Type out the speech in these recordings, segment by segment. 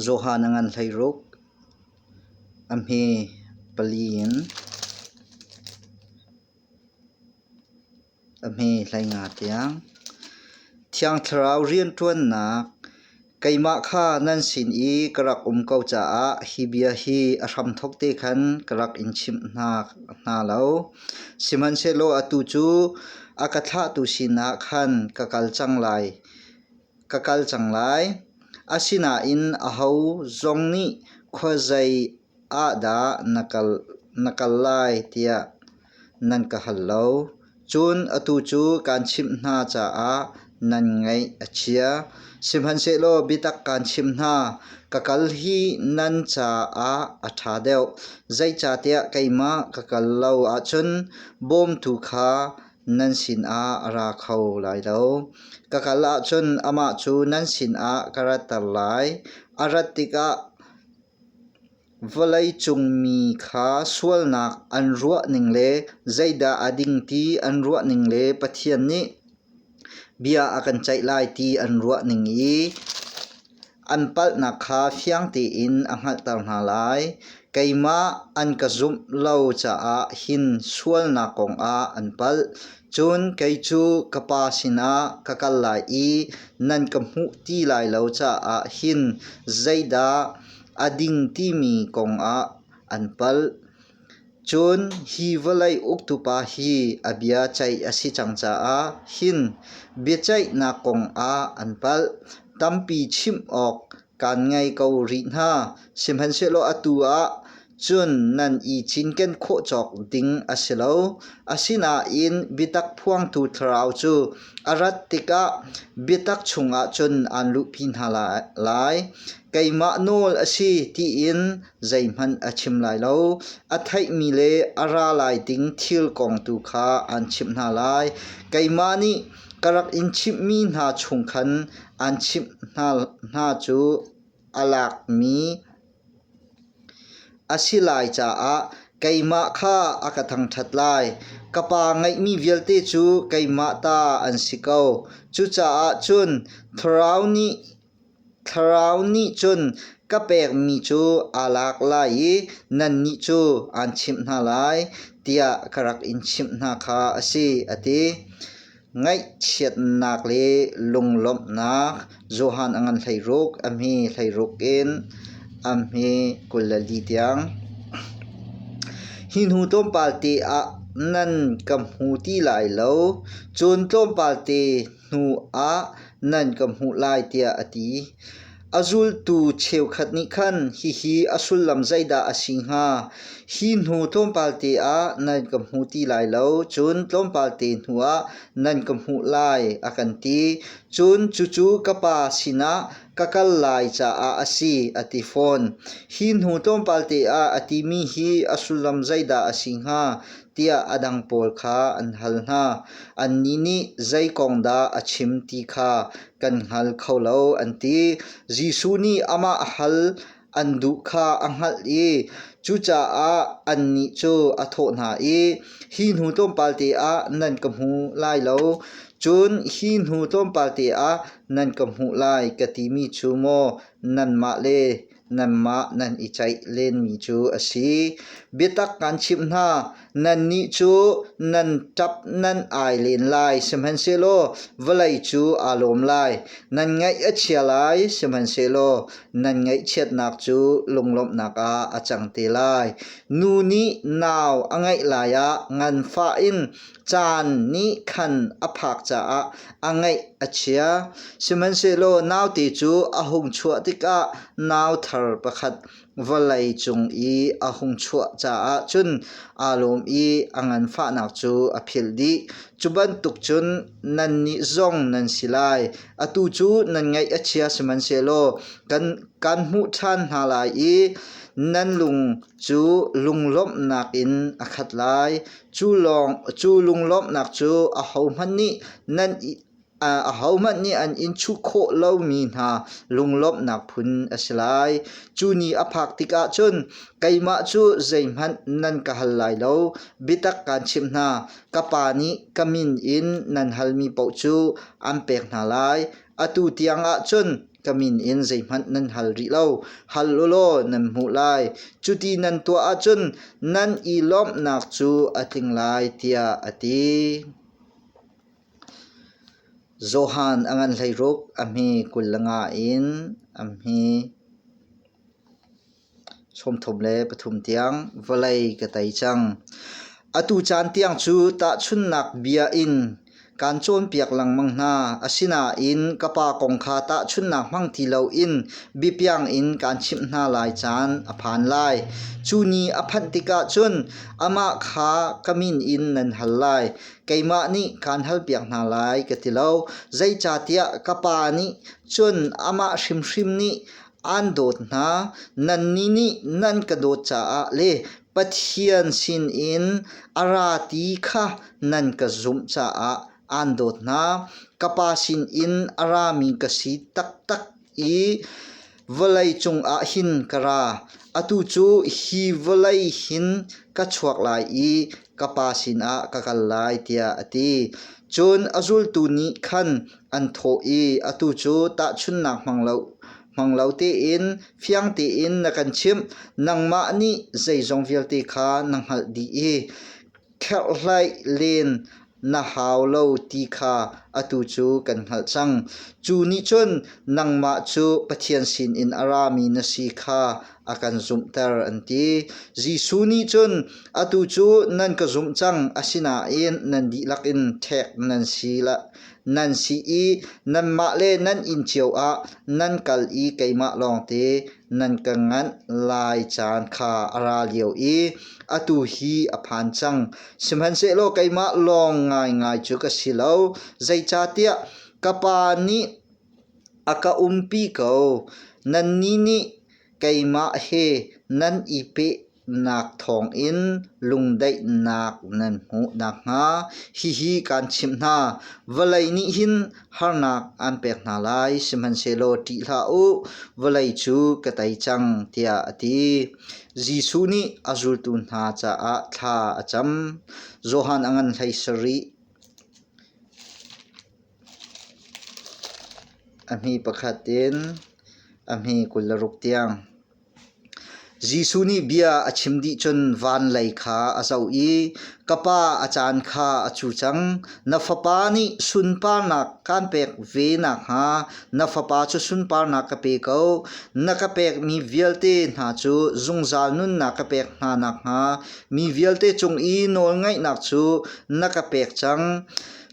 Johan a ngan hlei ruk. A hme pali in a hme hlei nga tiang. Thiang Thlarau rianṭuannak keimah kha nan sin i ka rak um ko caah hi bia hi a hramthawk te khan ka rak in chimh hna lo. Sihmanhsehlaw atu cu a ka thlahtu sinah khan ka kal cang lai. ka kal cang lai. Asinain aho zong nih khuazei ah dah na kal, na kal lai tiah nan ka hal lo. Cun atu cu kaan chimh hna caah nan ngaih a chia. Sihmanhsehlaw biatak kaan chim hna, ka kal hi nan caah a ṭha deuh. Zeicahtiah keimah ka kal lo ahcun bawmtu kha Nan sinah a ra kho lai lo. Ka kal ahcun amah cu nan sinah ka ratter lai. A rat tikah vawleicung mi kha sualnak an ruahning le zeidah a ding ti an ruahning le Pathian nih bia a kan ceih lai ti an ruahning i An palhnak kha fiang tein a hngalhter hna lai. Keimah an ka zumh lo caah hin sualnak kongah an palh. Cun kei cu ka Pa sinah ka kal lai i nan ka hmuh ti lai lo caah hin zeidah a ding timi kongah an palh. Cun hi vawlei uktupa hi a bia ceih a si cang caah hin biaceihnak kongah an palh. Tampi chimh awk kan ngei ko rih hna. Sihmanhsehlaw atu ah cun nan i cinken khawh cawk ding a si lo. Asinain biatak phuangtu thlarau cu a rat tikah biatak chungah cun aan luhpi hna lai. Keimah nawl a si tiin zeihmanh a chim lai lo. A theihmi le a ra lai ding thil kong tu kha aan chimh hna lai. Keimah nih ka rak in chimhmi hna chung khan aan chimh hna, hna cu a lakmi a si lai caah keimah kha a ka thangṭhat lai. Ka Pa ngeihmi vialte cu keimah ta an si ko. Cucaah cun thlarau nih Thlarau nih cun ka pekmi cu aa lak lai i nannih cu aan chimh hna lai, tiah ka rak in chimh hna kha a si, a ti. Ngaihchiatnak le lunglawmhnak Johan a ngan hleiruk a hmi hleiruk in a hmi kul le li tiang. Hi hnu tlawmpal te ah nan ka hmu ti lai lo, cun tlawmpal te hnuah nan ka hmuh lai tiah a ti. A zultu cheukhat nih khan hihi a sullam zeidah a si hnga? Hi hnu tlawmpalte ah nan ka hmuh ti lai lo, cun tlawmpalte hnuah nan ka hmuh lai, a kan ti. Cun cucu ka Pa sinah ka kal lai caah a si, a ti fawn. Hi hnu tlawmpalte ah a timi hi a sullam zeidah a si hnga? tiah a dang pawl kha an hal hna. Annih nih zei kong dah a chim ti kha kan hngal kho lo an ti. Jesuh nih amah hal an duh kha a hngalh i cucaah annih cu a thawh hna i, Hi hnu tlawmpalte ah nan ka hmu lai lo, cun hi hnu tlawmpalte ah nan ka hmuh lai, ka timi cu maw nanmah le nanmah nan i ceih lenmi cu a si. Biatak kan chimh hna, nannih cu nan ṭap nan ai len lai, sihmanhsehlaw vawlei cu aa lawm lai. Nan ngaih a chia lai, sihmanhsehlaw nan ngaihchiatnak cu lunglawmhnak ah a cang te lai. Nu nih nau a ngeih lai ah nganfah in Caan nih khan a phak caah a ngaih a chia. Sihmanhsehlaw naute cu a hung chuah tikah nau thar pakhat vawlei cung i a hung chuah caah cun aa lawm i a nganfahnak cu a philh dih. Cu bantuk cun nannih zong nan si lai. Atu cu nan ngaih a chia, sihmanhsehlaw kan kan hmuh ṭhan hna lai i nan lung cu lunglawmhnak in a khat lai. Cu lunglawmhnak cu ahohmanh nih nan ahohmanh nih an in chuh khawh lomi hna lunglawmhnak phun a si lai. Cu ni a phak tikah cun keimah cu zeihmanh nan ka hal lai lo. Biatak kaan chimh hna, ka Pa nih ka min in nan halmi paoh cu an pek hna lai. Atu tiangah cun ka min in zeihmanh nan hal rih lo. Hal u law nan hmuh lai. Cuti nan tuah ahcun nan i lawmhnak cu a tling lai, tiah a ti. Johan a ngan hleiruk a hmi kul le nga in a hmi. Sawmthum le pathum tiang vawlei ka tei cang. Atu caan tiang cu tahchunhnak bia in kaan cawnpiak lengmang hna. Asinain ka pa kong kha tahchunhnak hmang ti loin biapiang in kaan chimh hna lai caan a phan lai. Cu ni a phanh tikah cun amah kha ka min in nan hal lai. Keimah nih kaan halpiak hna lai ka ti lo. Zeicahtiah ka pa nih cun amah hrimhrim nih Aan dawt hna, nannih nih nan ka dawt caah le Pathian sinin a ra ti kha nan ka zumh caah aan dawt hna. Ka Pa sinin a rami ka si taktak i vawlei cungah hin ka ra. Atu cu hi vawlei hin ka chuak lai i ka Pa sinah ka kal lai, tiah a ti. Cun a zultu nih khan an thawh i, Atu cu tahchunhnak hmang lo tein fiang tein na kan chimh, nangmah nih zeizong vialte kha na hngalh dih i kherhhlaih len na hau lo ti kha atu cu kan hngalh cang. Cu nih cun nangmah cu Pathian sinin a rami na si kha a kan zumhter an ti. Jesuh nih cun atu cu nan ka zumh cang, asinain nan dihlak in ṭhek nan si nan si i nanmah le nan inn cio ah nan kal i keimah lawngte nan ka nganh lai caan kha a ra lio i atu hi a phan cang. Sihmanhsehlaw keimah lawng ngaingai cu ka si lo, zeicahtiah ka Pa nih a ka umpi ko, nannih nih keimah he nan i peh nak thawngin lungdaihnak nan hmuh nakhnga hihi kaan chimh hna: vawlei nih hin harnak aan pek hna lai, sihmanhsehlaw ṭih hlah u, vawlei cu ka tei cang, tiah a ti. Jesuh nih a zultu hna caah thla a cam. Johan a ngan hlei sarih a hmi pakhat in a hmi kul le ruk tiang. Jesuh nih bia a chim dih cun van lei kha a zoh i, “Ka pa, a caan kha a cu cang. Na fapa nih sunparnak kaan pek ve nakhnga na fapa cu sunparnak ka pe ko. Na ka pekmi vialte hna cu zungzal nunnak ka pek hna nakhnga mi vialte cung i nawlngaihnak cu na ka pek cang.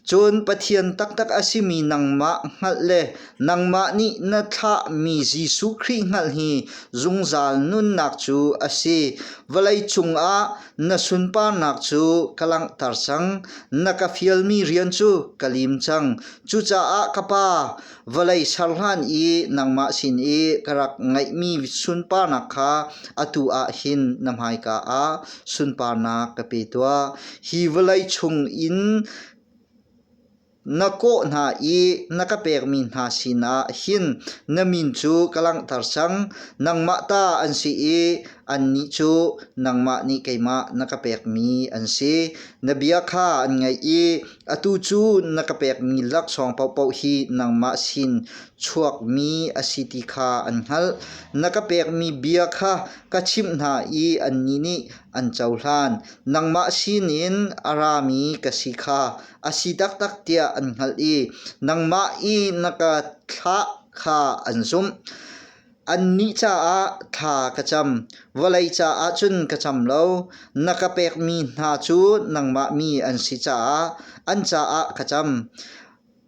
Cun Pathian taktak a simi nangmah hngalh le nangmah nih na thlahmi Jesuh Khrih hngalh hi zungzal nunnak cu a si. Vawlei cungah na sunparnak cu ka langhter cang. Na ka fialmi rian cu ka lim cang. Cucaah ka Pa, Vawlei ser hlan i nangmah sin i ka rak ngeihmi sunparnak kha atu ah hin na hmaika ah sunparnak ka pe tuah. Hi vawlei chung in na kawh hna i na ka pekmi hna sinah hin na min cu ka langhter cang. Nangmah ta an si i Annih cu nangmah nih keimah na ka pekmi an si. Na bia kha an ngaih i atu cu na ka pekmi laksawng paohpaoh hi nangmah sin chuakmi a si ti kha an hngalh. Na ka pekmi bia kha ka chimh hna i annih nih an cohlan. Nangmah sinin a rami ka si kha a si taktak tiah an hngalh i nangmah i na ka thlah kha an zumh. Annih caah thla ka cam, vawlei caah cun ka cam lo. Na ka pekmi hna cu nangmah mi an si caah an caah ka cam.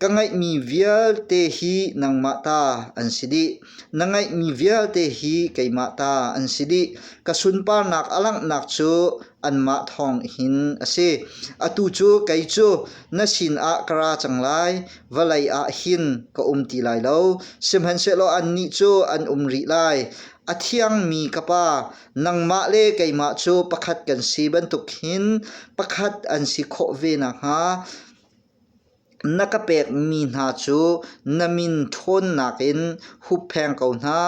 Ka ngeihmi vialte hi nangmah ta an si dih. Na ngeihmi vialte hi keimah ta an si dih. Ka sunparnak a langhnak cu anmah thawng hin a si. Atu cu kei cu na sinah ka ra cang lai, vawlei ah hin ka um ti lai lo. Sihmanhsehlaw annih cu an um rih lai. A thiangmi ka Pa, nangmah le keimah cu pakhat kan si bantuk hin pakhat an si khawh ve nakhnga Na ka pekmi hna cu na min ṭhawnnak in huppheng ko hna.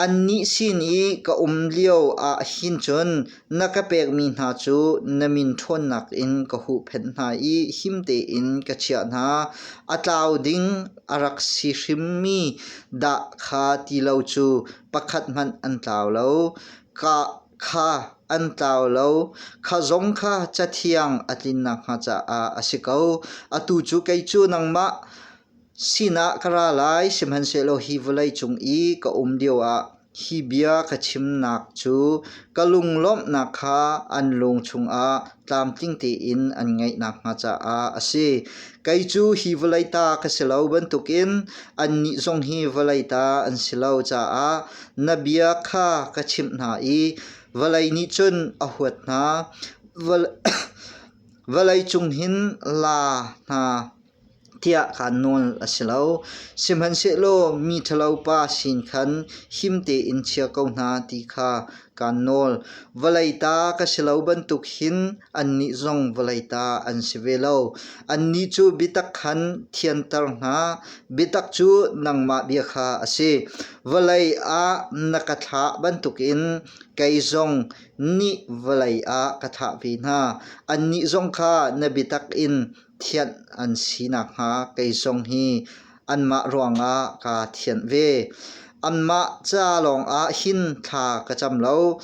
Annih sin i ka um lio ahhin cun na ka pekmi hna cu na min ṭhawnnak in ka huhphenh hna i him tein ka chiah hna. A tlau ding a rak si hrimmi dah kha ti lo cu pakhat hmanh an tlau lo. Ka Kha an tlau lo. Kha zong kha cathiang a tlin nakhnga caah a si ko. Atu cu kei cu nangmah sinah ka ra lai, sihmanhsehlaw hi vawleicung i ka um lioah hi bia ka chimnak cu ka lunglawmhnak kha an lung chungah tlamtling tein an ngeih nakhnga caah a si. Kei cu hi vawlei ta ka si lo bantukin annih zong hi vawlei ta an si lo caah na bia kha ka chimh hna i vawlei nih cun a huat hna. Vawlei cung hin la hna. tiah kaan nawl a si lo. Sihmanhsehlaw mi ṭhalo pa sin khan him tein chia ko hna ti kha kaan nawl. Vawlei ta ka si lo bantuk hin annih zong vawlei ta an si ve lo. Annih cu biatak khan thianter hna, biatak cu nangmah bia kha a si. Vawlei ah na ka thlah bantukin kei zong nih vawlei ah ka thlah ve hna. Annih zong kha na biatak in thianh an si nakhnga kei zong hi anmah ruangah kaa thianh ve. Anmah ca lawngah hin thla ka cam lo.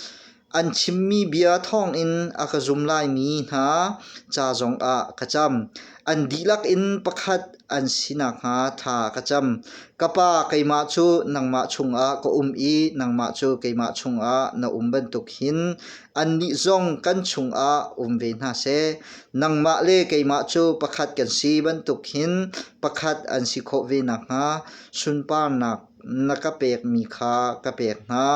An chimmi bia thawngin a ka zum laimi hna ca zongah ka cam. An dihlak in pakhat an si nakhnga tha ka cam. Ka pa keimah cu nangmah chungah ka um i nangmah cu keimah chungah na um bantuk hin Annih zong kan chungah um ve hna seh. Nangmah le keimah cu pakhat kan si bantuk hin pakhat an si khawh ve nakhnga sunparnak na ka pekmi kha ka pek hna.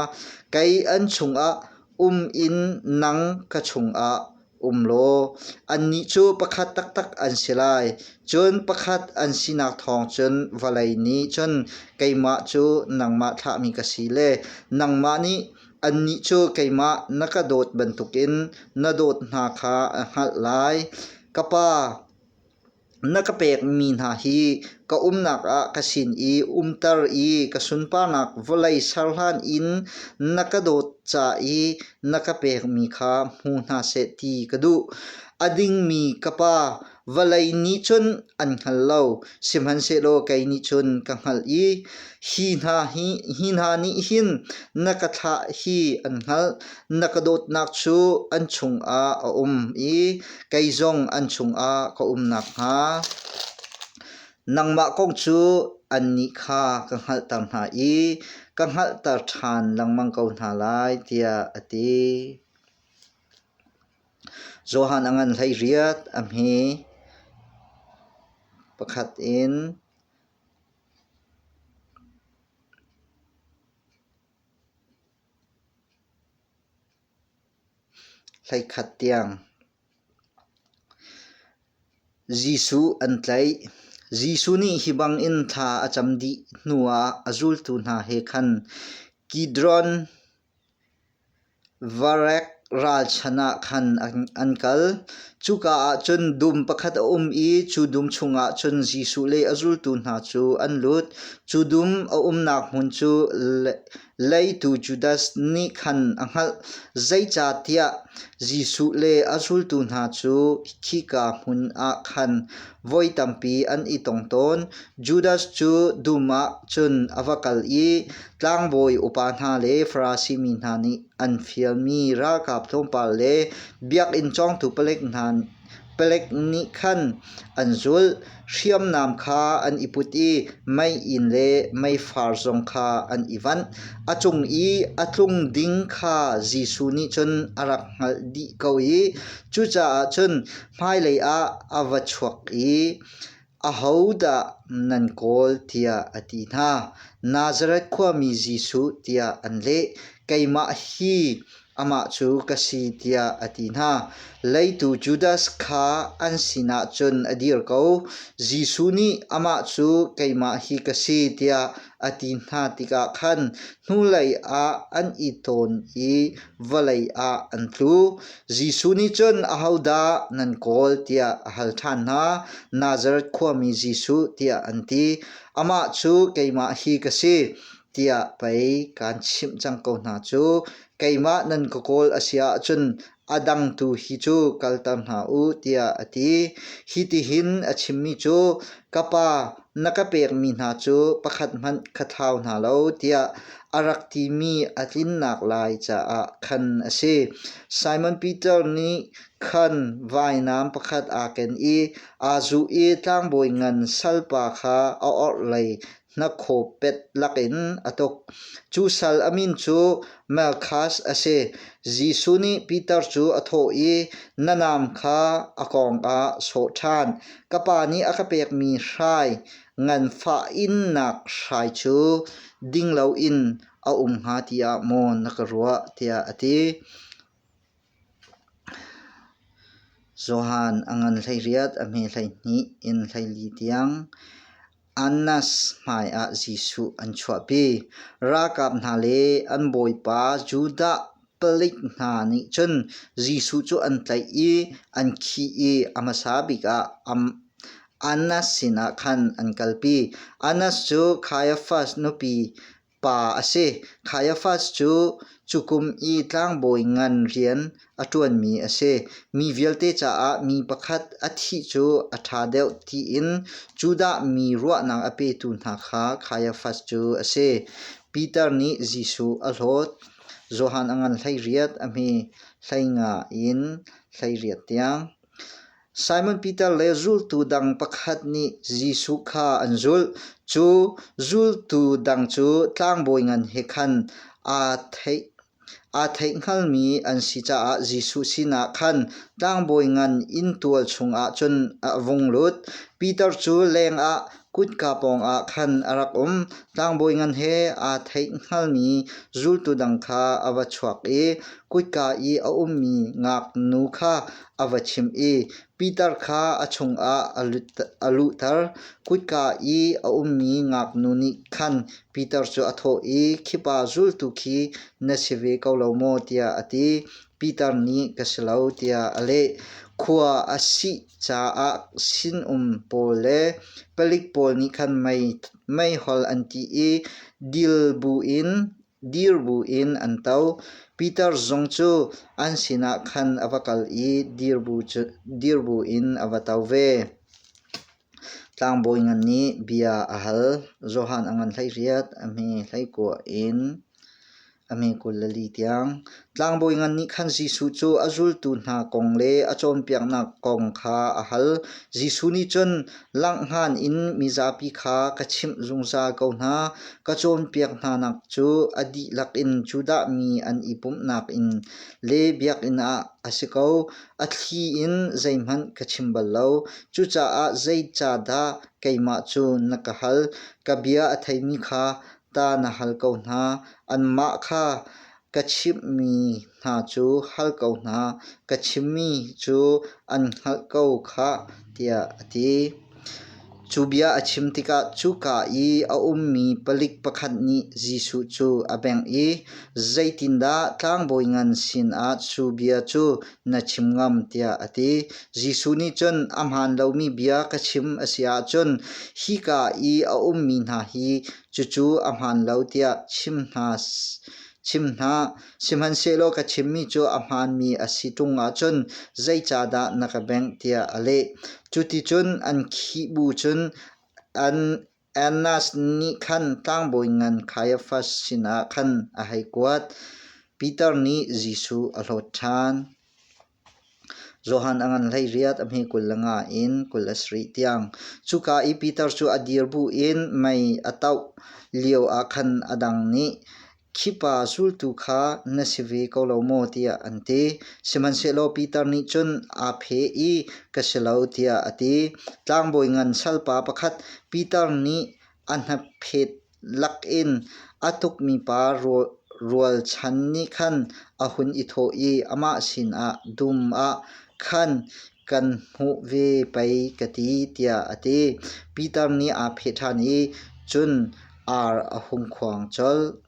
Kei an chungah um in nang ka chungah um law annih cu pakhat taktak an si lai. Cun pakhat an sinak thawng cun vawlei nih cun keimah cu nangmah thlahmi ka si le nangmah nih Annih cu keimah na ka dawt bantukin na dawt hna kha a hngalh lai. Ka Pa, na ka pekmi hna hi ka umnak ah ka sin i umter i ka sunparnak vawlei ser hlan in na ka dawt ca i na ka pekmi kha hmu hna seh ti ka duh. A dingmi ka Pa, Vawlei nih cun an hngal lo, sihmanhsehlaw kei nih cun ka hngalh i hi hna hi hi hna nih hin na ka thlah hi an hngalh, na ka dawtnak cu an chungah a um i kei zong an chungah ka um nakhnga, nangmah kong cu annih kha ka hngalhter hna i ka hngalhter ṭhan lengmang ko hna lai, tiah a ti. Johan a ngan hleiriat. A hmi pakhat in hleikhat tiang Jesuh an tlaih. Jesuh nih hi bangin thla a cam dih hnuah a zultu hna he khan Kidron Varek ralchan ah khan an kal. Cuka ah cun dum pakhat a um i cu dum chungah cun Jesuh le a zultu hna cu an lut. Cu dum a umnak hmun cu leitu Judas nih khan a hngalh. Zeicahtiah Jesuh le a zultu hna cu khika hmun ah khan voi tampi an i tong tawn. Judas cu dum ah cun a va kal i Tlangbawi upa hna le Farasi mi hna nih an fialmi ralkap tlawmpal le biakinn cawngtu palek hna palek nih khan an zulh. Hriamnam kha an i put i mei in le meifar zong kha an i vanh. A cung i a tlung ding kha Jesuh nih cun a rak hngalh dih ko i cucaah cun hmailei ah a va chuak i Ahodah nan kawl tiah a ti hna. Nazareth khuami Jesuh tiah an leh. Keimah hi amah cu ka si tiah a ti hna. Leitu Judas kha an sinah cun a dir ko. Jesuh nih amah cu keimah hi ka si tiah a ti hna tikah khan hnulei ah an i tawn i vawlei ah an tlu. Jesuh nih cun, Ahodah nan kawl? tiah a hal ṭhan hna. Nazareth khuami Jesuh tiah an ti. Amah cu keimah hi ka si tiah pei kaan chimh cang ko hna cu. Keimah nan ka kawl a si ahcun A dang tu hi cu kalter hna u tiah a ti. Hitihin a chimmi cu ka pa na ka pekmi hna cu pakhat hmanh ka thau hna lo tiah a rak timi a tlinnak lai caah khan a si. Simon Peter nih khan vainam pakhat aa ken i aa zuh i tlangbawi ngan salpa kha a orhlei Hnakhaw pet lakin a tuk. Cu sal a min cu Malkhas a si. Jesuh nih Peter cu a thawh i, Na naam kha a kawng ah sawh ṭhan. Ka pa nih a ka pekmi hrai, nganfah innak hrai cu ding loin a um hnga tiah maw na ka ruah? tiah a ti. Johan a ngan hleiriat a hme hleihnih in hleili tiang Annas hmaiah Jesuh an chuahpi. Ralkap hna le an bawipa Judah palik hna nih cun Jesuh cu an tlaih i an khih i a hmasa bik ah Annas sinah khan an kalpi. Annas cu Kaiafas nupi Pa a si. Caiaphas cu cukum i tlangbawi ngan rian a ṭuanmi a si. Mi vialte caah mi pakhat a thih cu a ṭha deuh tiin Judah mi ruahnak a petu hna kha Caiaphas cu a si. Peter nih Jesuh a hlawt. Johan a ngan hleiriat a hmi, hleinga in hleiriat tiang. Simon Peter le zultu dang pakhat nih Jesuh kha an zulh. Cu zultu dang cu tlangbawi ngan he khan aa theih. Aa theih hngalmi an si caah Jesuh sinah khan tlangbawi ngan inn tual chungah cun a vung lut. Peter cu lengah Kutka pawngah khan a rak um. Tlangbawi ngan he aa theih hngalmi zultu dang kha a va chuak i kutka i a ummi ngaknu kha a va chimh i Peter kha a chungah a luhter. Kutka i a ummi ngaknu nih khan Peter cu a thawh i, Khipa zultu khi na si ve ko lo maw? tiah a ti. Peter nih, Ka si lo, tiah a leh. Khua a si caah sinum pawl le palik pawl nih khan mei meihol an tih i dil buin dir buin an to. Peter zong cu an sinah khan a va kal i dir bu cu dir buin a va to ve. Tlangbawi ngan nih bia a hal. Johan a ngan hlei riat a hmi hlei kuah in A mi kul le li tiang, tlangbawi ngan nih khan Jesuh cu a zultu hna kong le a cawnpiaknak kong kha a hal. Jesuh nih cun, Langh hngan in mizapi kha ka chimh zungzal ko hna. Ka cawnpiak hnanak cu a dihlak in Judah mi an i pumhnak in le biakinn ah a si ko. A thli in zeihmanh ka chim bal lo. Cucaah zei ca dah keimah cu na ka hal? Ka bia a theimi kha Tah na hal ko hna, anmah kha ka chimhmi hna cu hal ko hna, ka chimmi cu an hngalh ko khah, tiah a ti. Cu bia a chim tikah cuka i a ummi palik pakhat nih Jesuh cu a bengh i, “Zeitindah tlangbawi ngan sinah cu bia cu na chim ngam tiah a ti. Jesuh nih cun a hmaan lomi bia ka chim a si ahcun hika i a ummi hna hi cucu a hmaan lo tiah chim hna chim hna. Sihmanhsehlaw ka chimmi cu a hmaanmi a si ṭung ahcun zeicahdah na ka bengh tiah a leh. Cuticun an khih bu cun an Annas nih khan tlangbawi ngan Kaiafas sinah khan a hei kuat. Piter nih Jesuh a hlawt ṭhan. Johan a ngan hleiriat a hme kul le nga in kul a sarih tiang. Cuka i Piter cu a dir bu in mei a toh lio ah khan a dang nih Khipa zultu kha na si ve ko lo maw tiah an ti. Sihmanhsehlaw Piter nih cun aa phe i ka si lo tiah a ti. Tlangbawi ngan salpa pakhat Piter nih a hnaphet lakin a tukmi pa rualchan nih khan a hun i thawh i amah sinah, Dum ah khan kan hmuh ve pei ka ti, tiah a ti. Piter nih aa phe ṭhan i, cun Ar a hum khuang colh.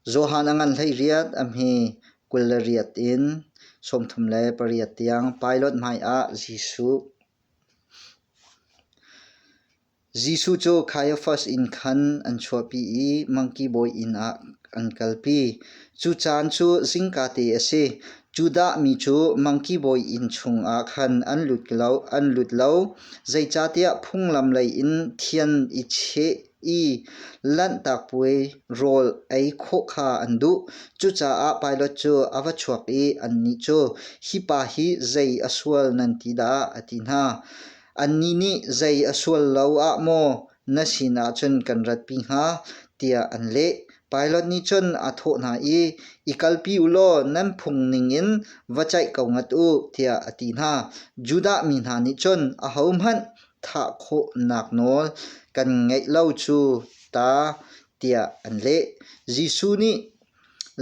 Johan a ngan hleiriat a hmi kul le riat in sawmthum le pariat tiang Pilate hmaiah Jesuh. Jesuh cu Kaiafas inn khan an chuahpi i mangki bawi inn ah an kalpi. Cu caan cu zingka te a si. Judah mi cu mangki bawi inn chungah khan an lut lo, an lut lo. Zeicahtiah phunglam lei in thian i cheh i lanhtak puai rawl ei khawh kha an duh. Cucaah Pilat cu a va chuak i annih cu, Hi pa hi zei a sual nan ti dah? a ti hna. Annih nih zei a sual lo ah maw na sin ahcun kan ratpi hnga tiah an leh. Pilot nih cun a thawh hna i, i kalpi u law nan phung ningin va caih ko ngat u tiah a ti hna. Judah mi hna nih cun ahohmanh thah khawhnak nawl kan ngeih lo cu ta tiah an leh. Jesuh nih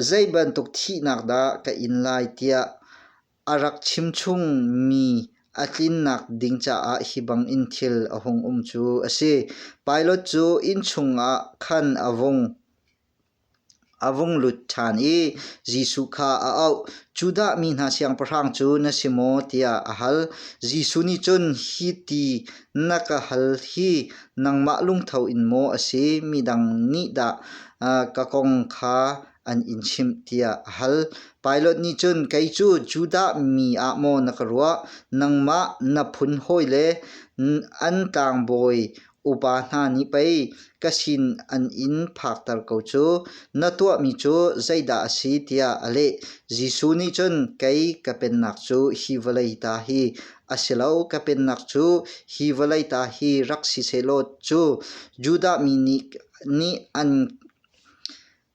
zei bantuk thihnak dah ka in lai tiah A rak chimchungmi a tlinnak ding caah hi bangin thil a hung um cu a si. Pilot cu inn chungah khan a vung a vung lut ṭhan i Jesuh kha a auh. Judah mi hna siangpahrang cu na si maw? tiah a hal. Jesuh nih cun hi ti na ka hal hi nangmah lungtho in maw a si? Midang nih dah ka kong kha an in chimh tiah a hal. Pilot nih cun, kei cu Judah mi ah maw na ka ruah? Nangmah na phun hawile, an tlangbawi upa hna nih pei ka sin an in phakter ko cu. Na tuahmi cu zeidah a si? tiah a leh. Jesuh nih cun, kei ka pennak cu hi vawlei ta hi a si lo. Ka pennak cu hi vawlei ta hi rak si sehlaw cu Judah mi nih, nih an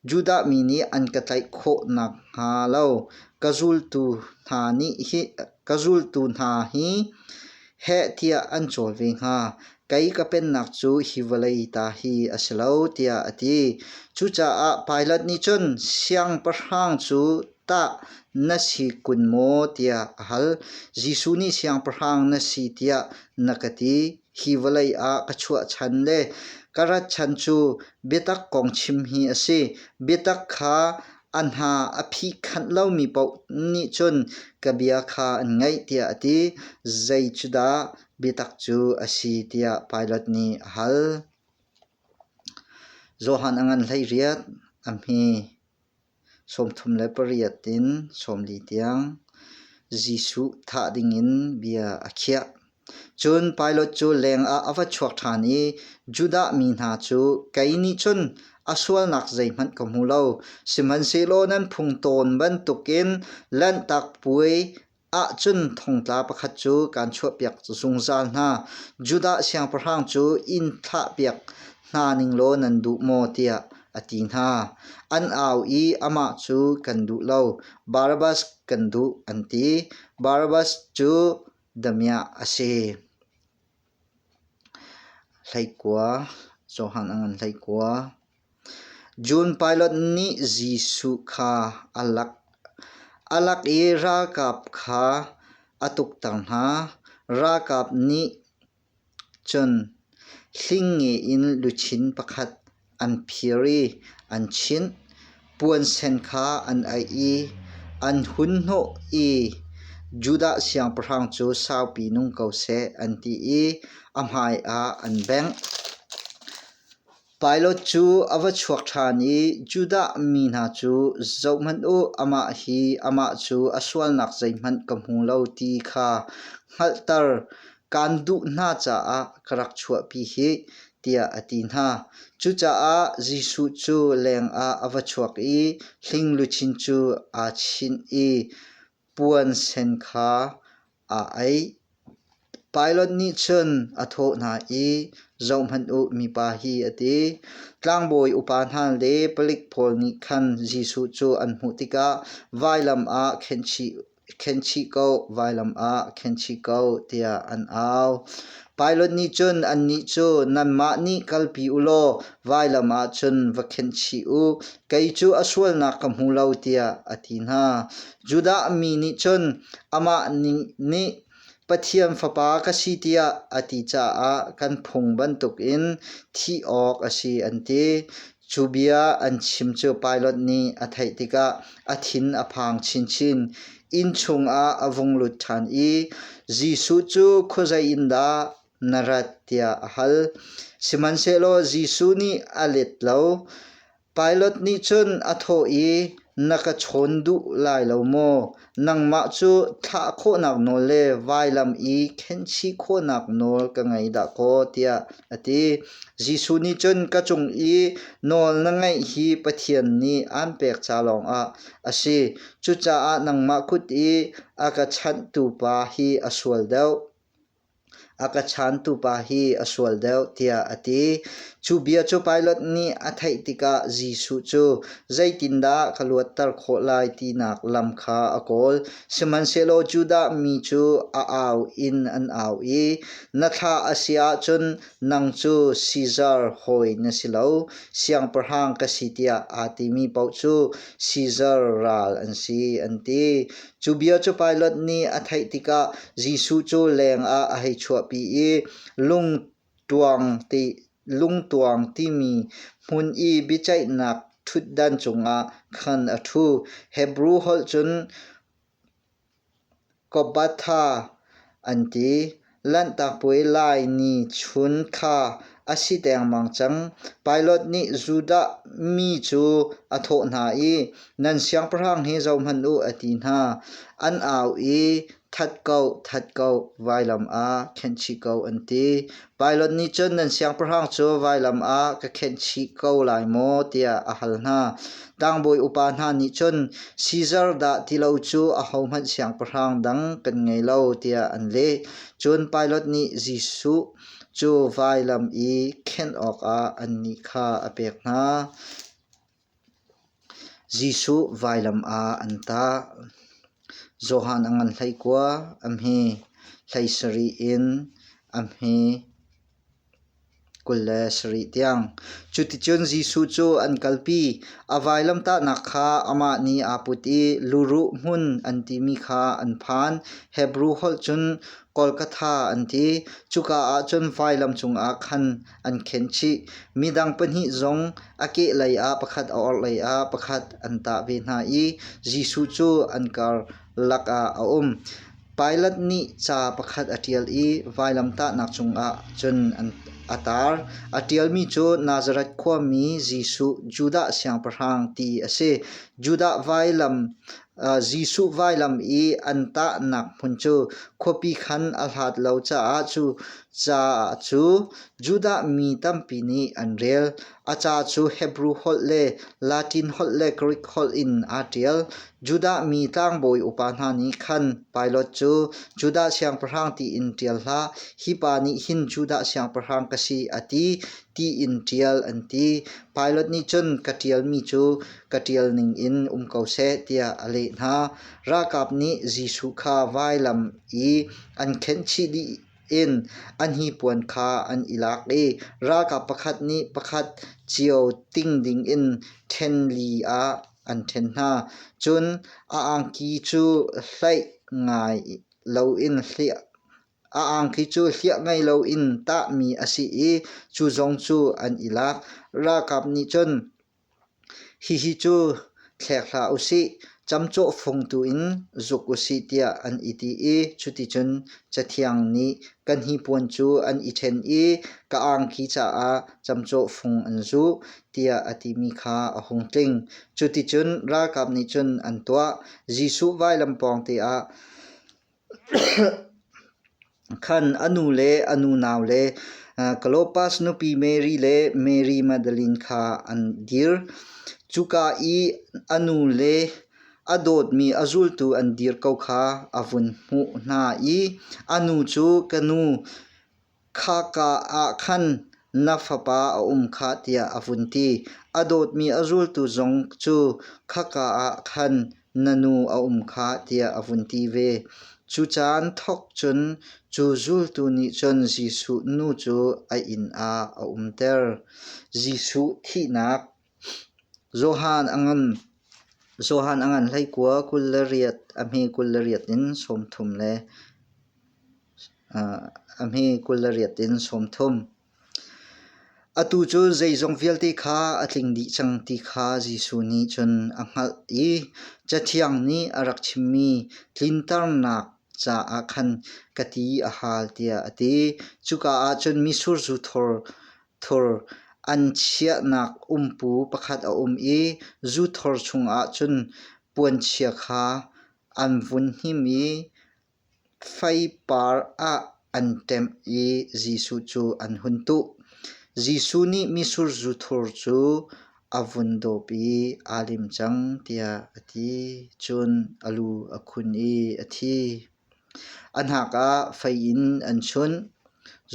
Judah mi nih an ka tlaih khawh nakhnga lo ka zultu hna nih hi ka zultu hna hi heh tiah an cawl ve hnga. Kei ka pennak cu hi vawlei ta hi a si lo, tiah a ti. Cucaah Pilat nih cun, Siangpahrang cu tah na si kun maw? tiah a hal. Jesuh nih, Siangpahrang na si tiah na ka ti. hi vawlei ah ka chuah chan le ka rat chan cu biatak kong chim hi a si. Biatak kha a hna a phi khanh lomi paoh nih cun ka bia kha an ngaih tiah a ti. Zei cu dah biatak cu a si tiah Pilat nih a hal. Johan a ngan hlei riat a hmi. Sawmthum le pariat in sawmli tiang Jesuh thah dingin bia a khiah. Cun Pilat cu lengah a va chuak ṭhan i Judah mi hna cu, Kei nih cun a sualnak zeihmanh ka hmu lo, sihmanhsehlaw nan phung tawn bantukin Lanhtak Puai Ahcun thongtla pakhat cu kaan chuahpiak cu zungzal hna. Judah siangpahrang cu inn thlahpiak hna ning law nan duh maw? tiah a ti hna. An au i amah cu kan duh lo, Barabbas kan duh an ti. Barabbas cu damiah a si. Hleikua, Johan a ngan hleikua. John Pilate nih Jesuh kha a lak. A lak i ralkap kha a tukter hna. Ralkap nih cun hlingnge in luchin pakhat an phir i an chinh. Puansen kha an aih i an hun hnawh i Judah siangpahrang cu saupi nung ko seh an ti i a hmaiah an bengh. Pailot cu a va chuak ṭhan i Judah mi hna cu zohhmanh u, amah hi amah cu a sualnak zeihmanh ka hmu lo ti kha hngalhter kaan duh hna caah ka rak chuahpi hih, tiah a ti hna. Cucaah Jesuh cu lengah a va chuak i hling luchin cu aa chinh i Puansen kha aa ei. Pilot nih cun a thawh hna i, Zohhmanh u, mipa hi, a ti. Tlangbawi upa hna le palik pawl nih khan Jesuh cu an hmuh tikah, Vailam ah khenchih ko, vailam ah khenchih ko, tiah an au. Pilot nih cun annih cu nanmah nih kalpi u law vailam ah cun va khenh chih u, kei cu a sualnak ka hmu lo, tiah a ti hna. Judah mi nih cun amah nih Pathian fapa ka si tiah a ti caah kan phung bantukin thih awk a si an ti. Cu bia an chim cu Pilot nih a theih tikah a thin a phang chinchin. Inn chungah a vung lut ṭhan i Jesuh cu khuazei in dah na rat tiah a hal. Sihmanhsehlaw Jesuh nih a let lo. Pilot nih cun a thawh i, Na ka chawn duh lai lo maw? Nangmah cu thlah khawhnak nawl le vailam i khenchih khawhnak nawl ka ngei dahkaw tiah a ti. Jesuh nih cun ka cung i nawl na ngaih hi Pathian nih aan pek ca lawngah a si. Cucaah nangmah kut i a ka chanhtu pa hi a sual deuh. A ka chantu pa hi a sual deuh tiah a ti. Cu bia cu Pilat nih a theih tikah Jesuh cu zeitindah ka luatter khawh lai tinak lam kha a kawl. Sihmanhsehlaw Judah mi cu a au in an au i, Na thlah a si ahcun nang cu Sizar hawi na si lo, siangpahrang ka si tiah aa timi paoh cu Sizar ral an si, an ti. Cu bia cu Pilat nih a theih tikah Jesuh cu lengah a hei chuahpi i lungtuang ti lungtuang timi hmun i biaceihnak ṭhutdan cungah khan a ṭhu. Hebru holh cun kobatha an ti. Lanhtak puai lai ni chun kha a si dengmang cang. Pilot nih Judah mi cu a thawh hna i, Nan siangpahrang hi zohhmanh u, a ti hna. An au i, That ko, that ko, vailam ah khenhchih ko, an ti. Pilot nih cun, Nan siangpahrang cu vailam ah ka khenhchih ko lai maw? tiah a hal hna. Tlangbawi upa hna nih cun Caesar dah ti lo cu ahohmanh siangpahrang dang kan ngei lo tiah an leh. Cun Pilate nih Jesuh cu vailam i khenh awkah annih kha a pek hna. Jesuh vailam ah an tah. Johan a ngan hlei kua, a hme hlei sarih in a hme. Kul le sarih tiang. Cuticun Jesuh cu an kalpi. A vailamtahnak kha amah nih aa put i luruh hmun an timi kha an phan. Hebru holh cun Golgotha an ti. Cuka ah cun vailam cungah khan an khenh chih. Midang pahnih zong a kehlei ah pakhat a orhlei ah pakhat an tah ve hna i Jesuh cu an karlak ah a um. Pilat nih ca pakhat a ṭial i vailamtahnak cungah cun a tar. A ṭialmi cu Nazareth khuami Jesuh Judah Siangpahrang ti a si. Judah vailam Jesuh vailam i an tahnak hmun cu khuapi khan a hlat lo caah cu ca cu Judah mi tampi nih an rel. A ca cu Hebru holh le Latin holh le Grik holh in aa ṭial. Judah mi tlangbawi upa hna nih khan Pilate cu Judah siangpahrang tiin ṭial hlah, hi pa nih hin Judah siangpahrang ka si, a ti, tiin ṭial an ti. Pilate nih cun, Ka ṭialmi cu ka ṭial ningin um ko seh, tiah a leh hna. Ralkap nih Jesuh kha vailam i an khenhchih dih in an hnipuan kha an i lak i ralkap pakhat nih pakhat cio ting ding in ṭhen li ah an ṭhen hna. Cun a angki cu hleih ngai loin hliah a angki cu hliah ngai loin tahmi a si i cu zong cu an i lak. Ralkap nih cun Hihi cu thlek hlah u sih, camcawh fung tuin zuk u sih tiah an i ti i cuticun Cathiang nih kan hnipuan cu an i ṭhen i ka angki caah camcawh fung an zuh tiah a timi kha a hung tling. Cuticun ralkap nih cun an tuah. Jesuh vailam pawngte ah Khan a nu le a nunau le Clopas nupi Mary le Mary Magdalene kha an dir. Cuka i a nu le a dawtmi a zultu an dir ko kha a vun hmuh hna i, “A nu cu ka nu, Khaka ah khan na fapa a um kha tiah a vun ti. A dawtmi a zultu zong cu khaka ah khan na nu a um kha tiah a vun ti ve. Cu caan thawk cun cu zultu nih cun Jesuh nu cu a inn ah a umter. Jesuh thihnak Johan a ngan hleikua kul le riat, a hmi kul le riat in sawmthum le a hmi kul le riat in sawmthum. Atu cu zeizong vialte kha a tling dih cang ti kha Jesuh nih cun a hngalh i Cathiang nih a rak chimmi tlinternak caah khan ka ti a hal tiah a ti. Cuka ah cun mitsur zu thor Thur an chiahnak umpu pakhat a um i zu thor chungah cun puanchia kha an vun him i faipar ah an ṭemh i Jesuh cu an hun tuh. Jesuh nih misur zu thur cu a vun dawp i aa lim cang tiah a ti. Cun a lu a khun i a thi. A hnak ah fei in an chunh.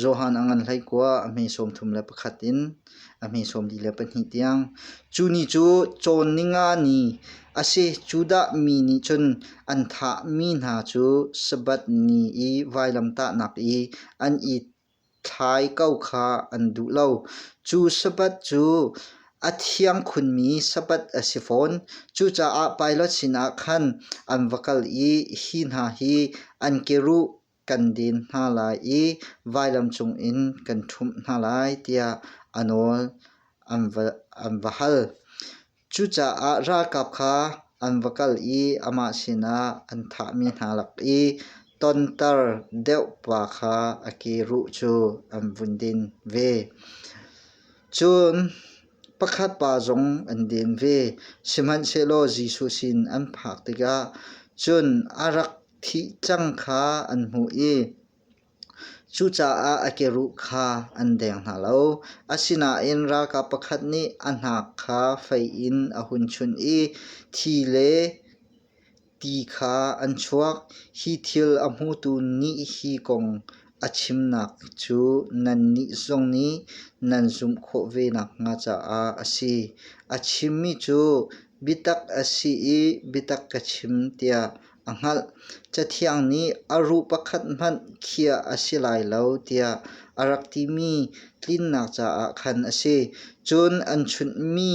Johan a ngan hlei kua a hme sawm thum le pakhat in a hme sawm li le pahnih tiang. Cu ni cu cawn ningani a si. Cu dah mi nih cun an thahmi hna cu Sabbath ni i vailamtahnak i an i Thlai ko kha an duh lo. Cu sabat cu a thiang khunmi sabat a si fawn. Cucaah Pilot sinah khan an va kal i hi hna hi an keruh kan den hna lai i vailam cungin kan ṭhumh hna lai tiah a nawl an va hal. Cucaah ralkap kha an va kal i amah sinah an thahmi hna lak i tonter deuh pa kha a kiruh cu an vun din ve. Cun pakhat pa zong an din ve, sihmanhsehlaw Jesuh sin an phak tikah cun a rak thih cang kha an hmuh i Cucaah a keruh kha an deng hna lo. Asinain ralkap pakhat nih a hnak kha fei in a hun chunh i thi le ti kha an chuak. Hi thil a hmutu nih hi kong a chimnak cu nannih zong nih nan zumh khawh ve nakhnga caah a si. A chimmi cu biatak a si i biatak ka chim tiah a hngalh. Cathiang nih a ruh pakhat hmanh khiah a si lai lo tiah a rak timi tlinnak caah khan a si. Cun an chunhmi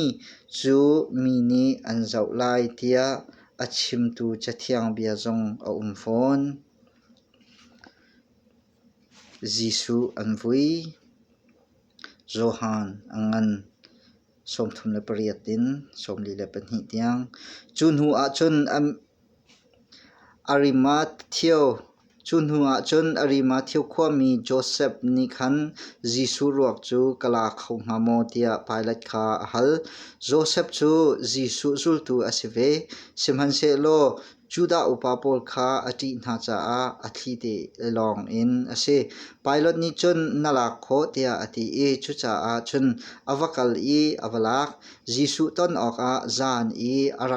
cu mi nih an zoh lai tiah a chimtu Cathiang bia zong a um fawn. Jesuh an vui. Johan a ngan sawmthum le pariat in sawmli le pahnih tiang. Cu hnu ahcun Arimatheo, cu hnu ahcun Arimatheo khuami Josef nih khan Jesuh ruak cu ka la kho hnga maw tiah Pilat kha a hal. Josef cu Jesuh zultu a si ve. Sihmanhsehlaw Judah upa pawl kha a ṭih hna caah a thli te lawng in a si. Pilat nih cun na lak khawh tiah a ti i cucaah cun a va kal i a va lak. Jesuh ton awkah zan i a rak